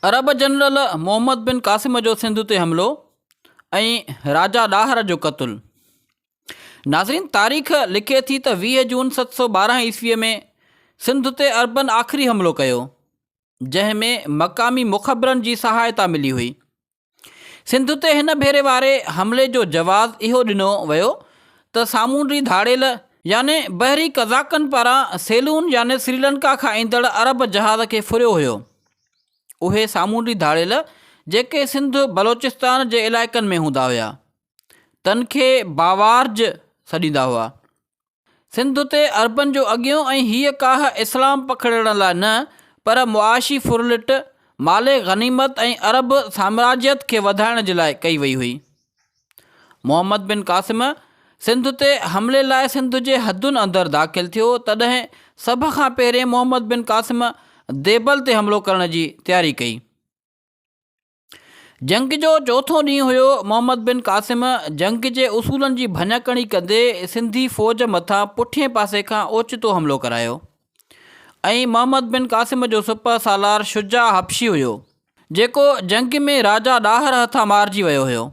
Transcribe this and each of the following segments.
عرب general Muhammad bin Qasim جو سنڌ تي حملو ۽ راجا ڏاهر جو قتل ناظرين تاريخ لکي ٿي ته ويهه جون ست سو ٻارهن عيسويء ۾ سنڌ تي عربن آخري حملو ڪيو جنهن ۾ مقامي مخبرن جي سهائتا ملي هئي سنڌ تي هن ڀيري واري حملي جو جواز اهو ڏنو ويو ته سامونڊي ڌاڙيل يعني بحري قزاقن پاران سيلون يعني سريلنڪا کان ايندڙ عرب جهاز کي ڦريو هيو. اهي سامونڊي ڌاڙيل جيڪي سنڌ بلوچستان جي علائقن ۾ هوندا هيا تن کي باوارج سڏيندا هئا. سنڌ تي عربن جو اڳيون ۽ هيء ڪاهه اسلام پکڙڻ لاء نه، پر معاشي ڦرلٽ، مال غنيمت ۽ عرب سامراجيت کي وڌائڻ جي لاء ڪئي وئي هئي. محمد بن قاسم سنڌ تي حملي لاء سنڌ جي حدن اندر داخل ٿيو، تڏهن سڀ کان پهرين محمد بن قاسم ديبل تي حملو ڪرڻ جي تياري ڪئي. جنگ جو چوٿون ڏينهن هيو، محمد بن قاسم جنگ جي اصولن جي ڀڃڪڻي ڪندي سنڌي فوج مٿان پٺئين پاسي کان اوچتو حملو ڪرايو ۽ محمد بن قاسم جو سپهه سالار شجاع حبشي هيو، جيڪو جنگ ۾ راجا ڏاهر هٿان مارجي ويو هيو.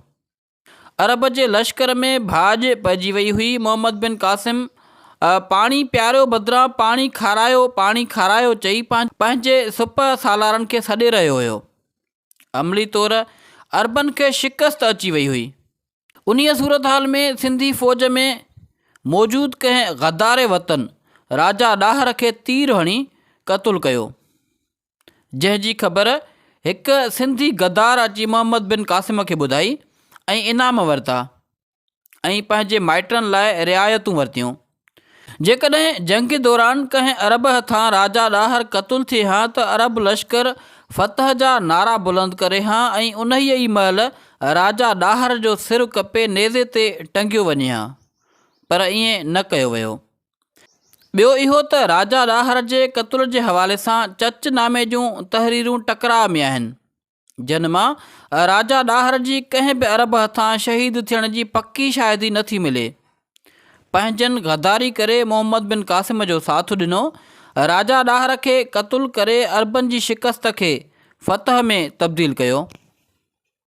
عرب جي لشڪر ۾ ڀاڄ پئجي وئي هئي. محمد بن قاسم پاڻي پياريو بدران پاڻي کارايو پاڻي کارايو چئي پنهنجي سپهه سالارن کي سڏي رهيو هيو. عملي طور عربن کي شڪست اچي وئي هئي. انهيء صورتحال ۾ سنڌي فوج ۾ موجود ڪنهن غدار وطن راجا ڏاهر کي تير هڻي قتل ڪيو. جنهن جي خبر هڪ سنڌي غدار اچي محمد بن قاسم کي ٻڌائي ۽ انعام ورتا ۽ پنهنجي مائٽن لاء رعايتون ورتيون. جيڪڏهن جنگ دوران ڪنهن عرب هٿان راجا ڏاهر قتل ٿئي ها ته عرب لشڪر فتح جا نعرا بلند ڪري ها ۽ انهيء ئي مهل راجا ڏاهر جو سر ڪپي نيزي تي ٽنگيو وڃي ها پر ائين نه ڪيو ويو. ٻيو اهو ته راجا ڏاهر جي قتل جي حوالي سان چچ نامي جون تحريرون ٽڪراء ۾ آهن، جن مان راجا ڏاهر جي ڪنهن به عرب هٿان شهيد ٿيڻ جي پڪي شاهدي نه ٿي ملي. پنهنجن غداري ڪري محمد بن قاسم جو ساٿ ڏنو، راجا ڏاهر کي قتل ڪري عربن جي شڪست کي فتح ۾ تبديل ڪيو.